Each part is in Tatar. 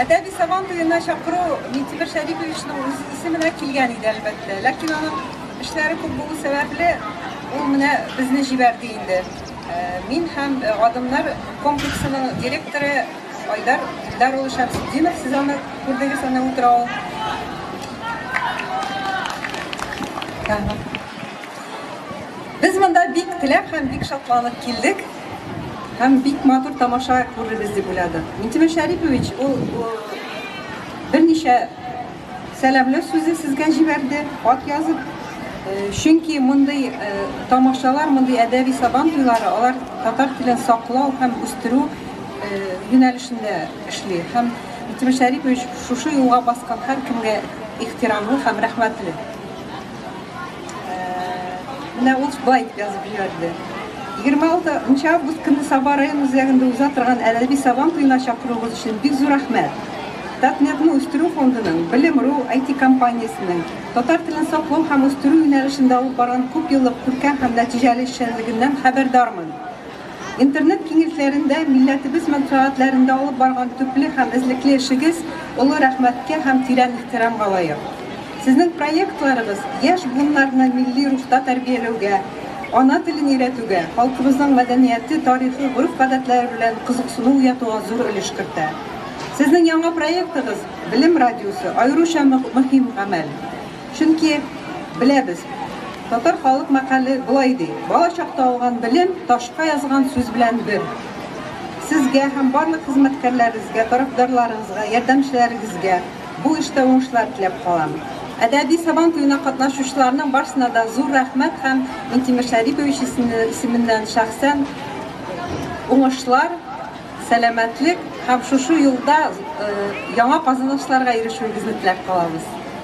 Әдәби Сабан туена чакыру Минтимер Шәриповичның үз исеменә килгән иде, әлбәттә. Ләкин аның эшләре күп булу сәбәпле, ул менә безне җибәрде инде. Мин һәм Адымнар комплексының директоры Айдар Илдар улы Шәмсетдинов, сез аны күрдегез, аны утыра ул. Без монда бик теләп һәм бик шатланып килдек. Һәм бик матур тамаша күрербез дип уйладык. Минтимер Шәрипович ул берничә сәламләү сүзе сезгә җибәрде, хат язып. Чөнки мондый тамашалар, мондый әдәби Сабан туйлары, алар татар телен саклау һәм үстерү юнәлешендә эшли. Һәм Минтимер Шәрипович шушы юлга баскан һәркемгә ихтирамлы һәм рәхмәтле. Менә ул байт язып җибәрде. 26 нчы август көнне Саба район үзәгендә уза торган Әләби Сабан туена чакыруыгыз өчен бик зур рәхмәт. Татнетны үстерү фондының, Белем.ру IT-компаниясенең, татар телен саклау һәм үстерү юнәлешендә алып барган күпьеллык күркәм һәм нәтиҗәле эшчәнлегеннән хәбәрдармын. Интернет киңлекләрендә милләтебез мәнфәгатьләрендә алып барган төпле һәм эзлекле эшегез олы рәхмәткә һәм тирән ихтирамга лаек. Сезнең проектларыгыз яшь буыннарны милли рухта тәрбияләүгә, ана телен өйрәтүгә, халкыбызның мәдәнияте, тарихы, гореф-гадәтләре белән кызыксыну уятуга зур өлеш кертә. Сезнең яңа проектыгыз, Белем радиосы, аеруча мөһим гамәл. Чөнки, беләбез, татар халык мәкале болай ди, Бала чакта алган белем ташка язган сүз белән бер. Сезгә һәм барлык хезмәткәрләрегезгә, тарафдарларыгызга, ярдәмчеләрегезгә бу эштә уңышлар теләп калам. Әдәби Сабан туена катнашучыларның барсына да зур рәхмәт һәм Минтимер Шәрипович исеменнән шәхсән уңышлар, сәламәтлек һәм шушы юлда яңа казанышларга ирешүегезне теләп калабыз.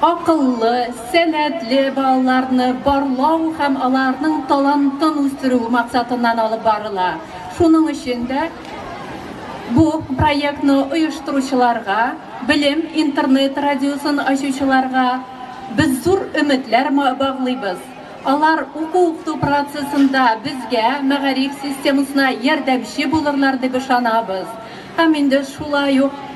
Акыллы, сәләтле балаларны барлау һәм аларның талантын үстерү максатыннан алып барыла. Шуның өчен дә бу проектны оештыручыларга, Белем интернет-радиосын ачучыларга без зур өметләр баглыйбыз. Алар уку-укыту процессында безгә, мәгариф системасына ярдәмче булырлар дип ышанабыз. Һәм инде шулай ук.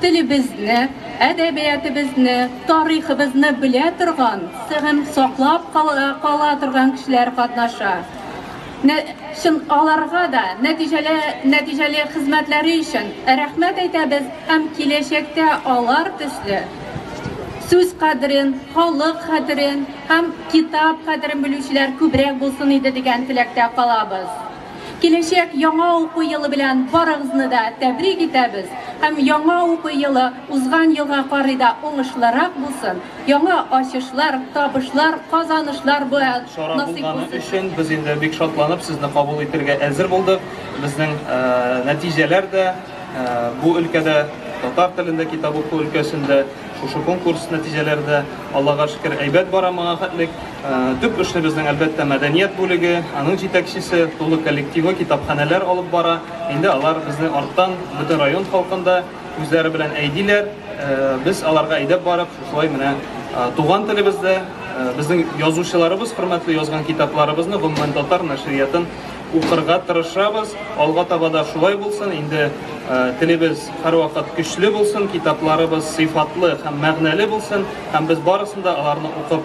Телебезне, әдәбиятыбызны, тарихыбызны белә торган, сыгын саклап кала торган кешеләр катнаша. Чын аларга да нәтиҗәле нәтиҗәле хезмәтләре өчен рәхмәт әйтәбез һәм киләчәктә алар төсле сүз кадерен, халык хәтерен һәм китап кадерен белүчеләр күбрәк булсын иде дигән теләктә калабыз. Киләчәк яңа уку елы белән барыгызны да тәбрик итәбез һәм яңа уку елы узган елга карый да уңышлырак булсын, яңа ачышлар, табышлар, казанышлар белән насыйп булсын сезгә! Бу чара булганы өчен без инде бик шатланып сезне кабул итергә әзер булдык. Безнең нәтиҗәләр дә бу өлкәдә, татар телендә китап уку өлкәсендә шушы конкурс нәтиҗәләре дә, Аллага шөкер, әйбәт бара моңа хәтлек. Төп эшне безнең, әлбәттә, мәдәният бүлеге, аның җитәкчесе, тулы коллективы, китапханәләр алып бара. Инде алар безне арттан, бөтен район халкын да үзләре белән әйдиләр. Без аларга әйдәп барып, шулай менә туган телебездә безнең язучыларыбыз хөрмәтле язган китапларыбызны, гомумән, татар нәшриятын укырга тырышабыз. Алга таба да шулай булсын. Инде телебез һәрвакыт көчле булсын, китапларыбыз сыйфатлы һәм мәгънәле булсын, һәм без барысын да аларны укып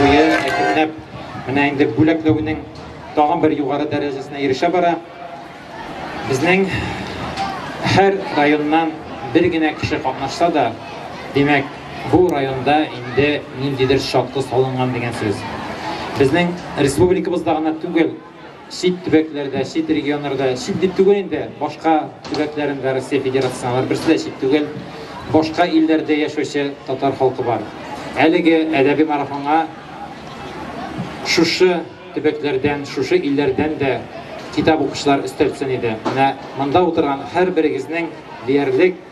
Туе әкренләп менә инде бүләкләүнең тагын бер югары дәрәҗәсенә ирешә бара. Безнең һәр районнан бер генә кеше катнашса да, димәк, бу районда инде ниндидер шартлы салынган дигән сүз. Безнең республикабызда гына түгел, Чит төбәкләрдә, чит регионнарда, чит дип түгел инде, башка төбәкләрендә Россия Федерациясенең, алар берсе дә чит түгел, башка илләрдә яшәүче татар халкы бар. Әлеге әдәби марафонга шушы төбәкләрдән, шушы илләрдән дә китап укучылар өстәлсен иде. Менә монда утырган һәрберегезнең диярлек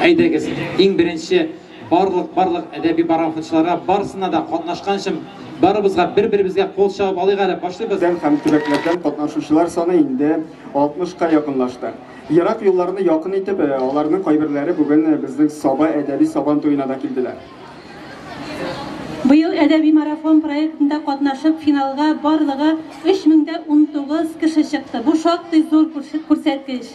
Әйдәгез, иң беренче барлык барлык әдәби пароходчыларга, барысына да катнашканчым, барыбызга бер-беребезгә кул чабып алыйк әле, башлыйбыз! Район һәм төбәкләрдән катнашучылар саны инде 60 ка якынлашты. Ерак юлларны якын итеп, аларның кайберләре бүген безнең Саба әдәби Сабан туена да килделәр. Быел Әдәби марафон проектында катнашып, финалга барлыгы 3019 кеше чыкты. Бу шактый зур күрсәткеч.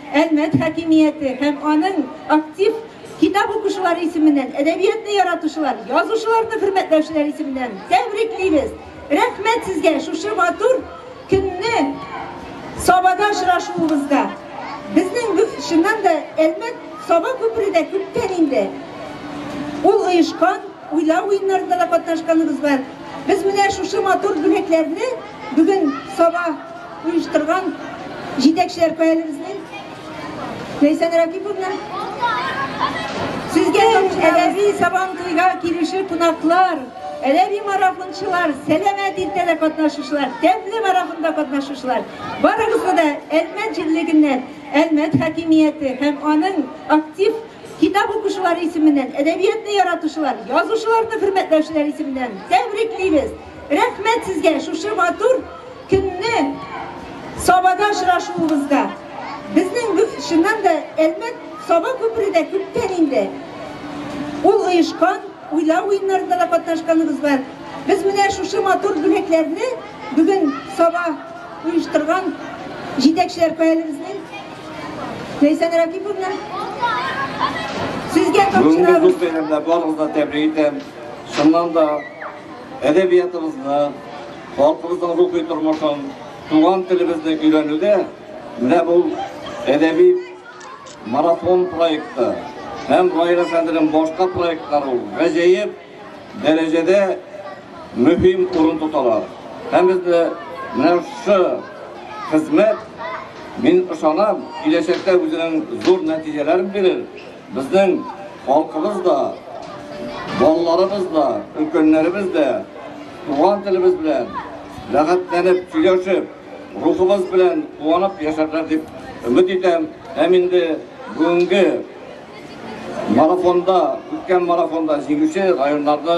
Әлмәт хакимияте һәм аның актив китап укучылары исеменнән, әдәбиятны яратучылар, язучыларны хөрмәтләүчеләр исеменнән тәбриклибез! Рәхмәт сезгә шушы матур көнне Сабада очрашуыбызга! Безнең бу, чыннан да, Әлмәт, Саба күпере дә күптән инде ул оешкан, уйлау уеннарында да катнашканыгыз бар. Без менә шушы матур бүләкләрне бүген Саба Оештырган җитәкчеләр каялебезне? Ләйсән Ракиповна? Сезгә әдәби сабан туйга килүче кунаклар, әдәби марафончылар, сәламәт иртәдә катнашучылар, тәмле марафонда катнашучылар, барыгызга да Әлмәт җирлегеннән Әлмәт хакимияте һәм аның актив китап укучылары исеменнән, әдәбиятны яратучылар, язучыларны хөрмәтләүчеләр исеменнән тәбриклибез. Рәхмәт сезгә шушы матур көнне Сабада очрашуыбызга. Безнең без чыннан да Әлмәт Саба күпере дә күптән инде. Ул оешкан, уйлау уеннарында да катнашканыбыз бар. Без менә шушы матур бүләкләрне бүген Саба оештырган җитәкчеләр каялебезнең Ләйсән Ракиповна сезгә тапшырабыз. Бүгенге зур бәйрәмдә барыгызны тәбрик итәм. Шуннан да Әдәбиятыбызны, халкыбызның рухи тормышын, туган телебезне өйрәнүдә менә бу әдәби марафон проекты һәм Раил әфәнденең башка проектлары гаҗәеп дәрәҗәдә мөһим урын тоталар. Һәм безне менә шы хезмәт, мин ышанам, киләчәктә үзенең зур нәтиҗәләрен бирер, Безнең халкыбыз да, балаларыбыз да, өлкәннәребез дә туган телебез белән рәхәтләнеп сөйләшеп, рухыбыз белән куанып яшәрләр дип өмет итәм. Һәм инде бүгенге марафонда, үткән марафонда җиңүче районнарны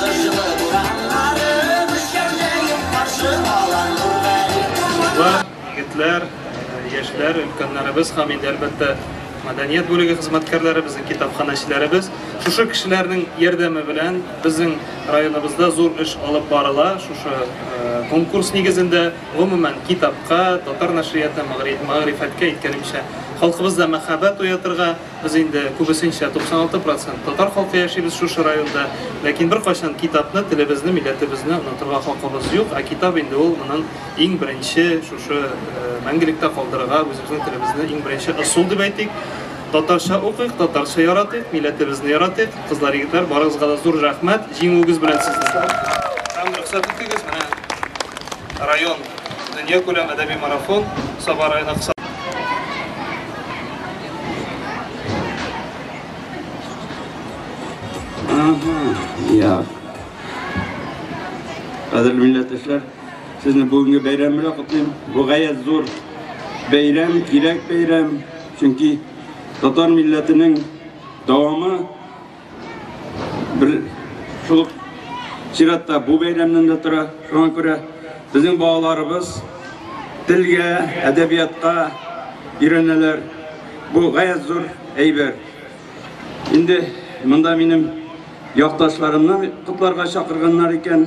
Кыш җылы бураннары Мөшкәлдәеп каршы ала Нургали Егетләр, яшьләр, өлкәннәребез һәм инде әлбәттә мәдәният бүлеге хезмәткәрләре, безнең китапханәчеләребез. Шушы кешеләрнең ярдәме белән безнең районыбызда зур эш алып барыла. Шушы конкурс нигезендә, гомумән, китапка, татар нәшрияты, мәгърифәткә, әйткәнемчә, халкыбызда мәхәббәт уятырга, Без инде күбесенчә, 96 процент, татар халкы яшибез шушы районда. Ләкин беркайчан китапны, телебезне, милләтебезне онытырга хакыбыз юк. Ә китап инде ул монын иң беренче, шушы мәңгелектә калдырырга үзебезнең телебезне иң беренче ысул дип әйтик. Татарча укыйк, татарча яратыйк, милләтебезне яратыйк. Кызлар, егетләр, барыгызга да зур рәхмәт. Җиңүегез белән сезне! Һәм рөхсәт итегез, менә район дөньякүләм әдәби марафон Саба районы кысаларында. Ага, я. Кадерле милләттәшләр, сезне бүгенге бәйрәм белән котлыйм. Бу гаять зур бәйрәм, кирәк бәйрәм, чөнки татар милләтенең дәвамы Бер шул чиратта бу бәйрәмнән дә тора. Шуңа күрә безнең балаларыбыз телгә, әдәбиятка өйрәнәләр. Бу гаять зур әйбер. Инде монда минем якташларымны котларга чакырганнар икән.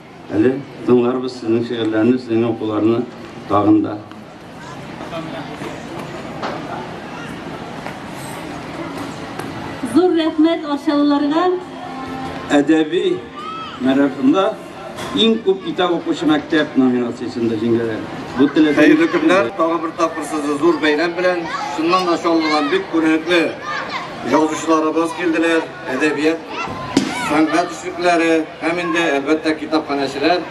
Әле тыңларбыз сезнең шигырьләрне, сезнең укуларны тагын да. Зур рәхмәт Арчалыларга. Әдәби марафонда иң күп китап укучы мәктәп номинациясендә җиңгәләр. Бу теләсә Хәерле көннәр, тагы бер тапкыр сезне зур бәйрәм белән. Шуннан да чаллыдан бик күренекле язучыларыбыз килделәр. Әдәбият, сәнгать эшлеклеләре һәм инде, әлбәттә, китапханәчеләр.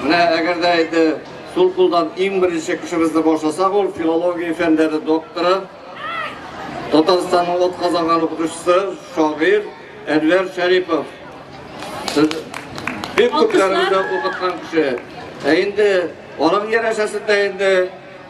Менә әгәр дә инде сул кулдан иң беренче кешебезне башласак, ул филология фәннәре докторы, Татарстанның атказанган укытучысы, шагыйрь Әнвәр Шәрипов. Сез бик күпләребезне укыткан кеше. Ә инде аның янәшәсендә инде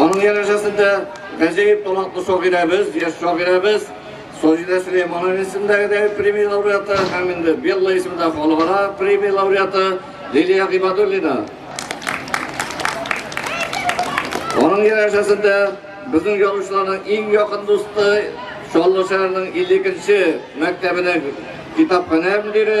Аның ярәшәсендә Гәҗәеп талантлы шагыйрәбез, яшь шагыйрәбез Саҗидә Сөләйманова исемендәге премия лауреаты һәм инде Белла исемендә халыкара премия лауреаты Лилия Гыйбадуллина. Аның ярәшәсендә безнең язучыларның иң якын дусты Чаллы шәһәренең 52 мәктәбенең китапханә мөдире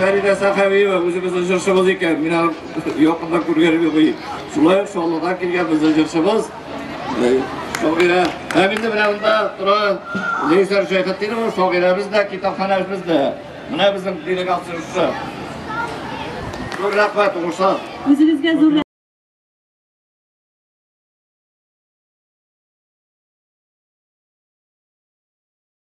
Фәридә Сахавиева үзебезнең җырчыбыз икән. Мин аны якында күргәнем юк. Шулай ук Шаллыдан килгән безнең җырчыбыз. Шагыйрә. Һәм инде менә монда тора Лейсәр Шәйхетдинова, шагыйрәбез дә, китапханәбез дә. Менә безнең делегация җырчы. Зур рәхмәт, уңышлар. Үзегезгә зур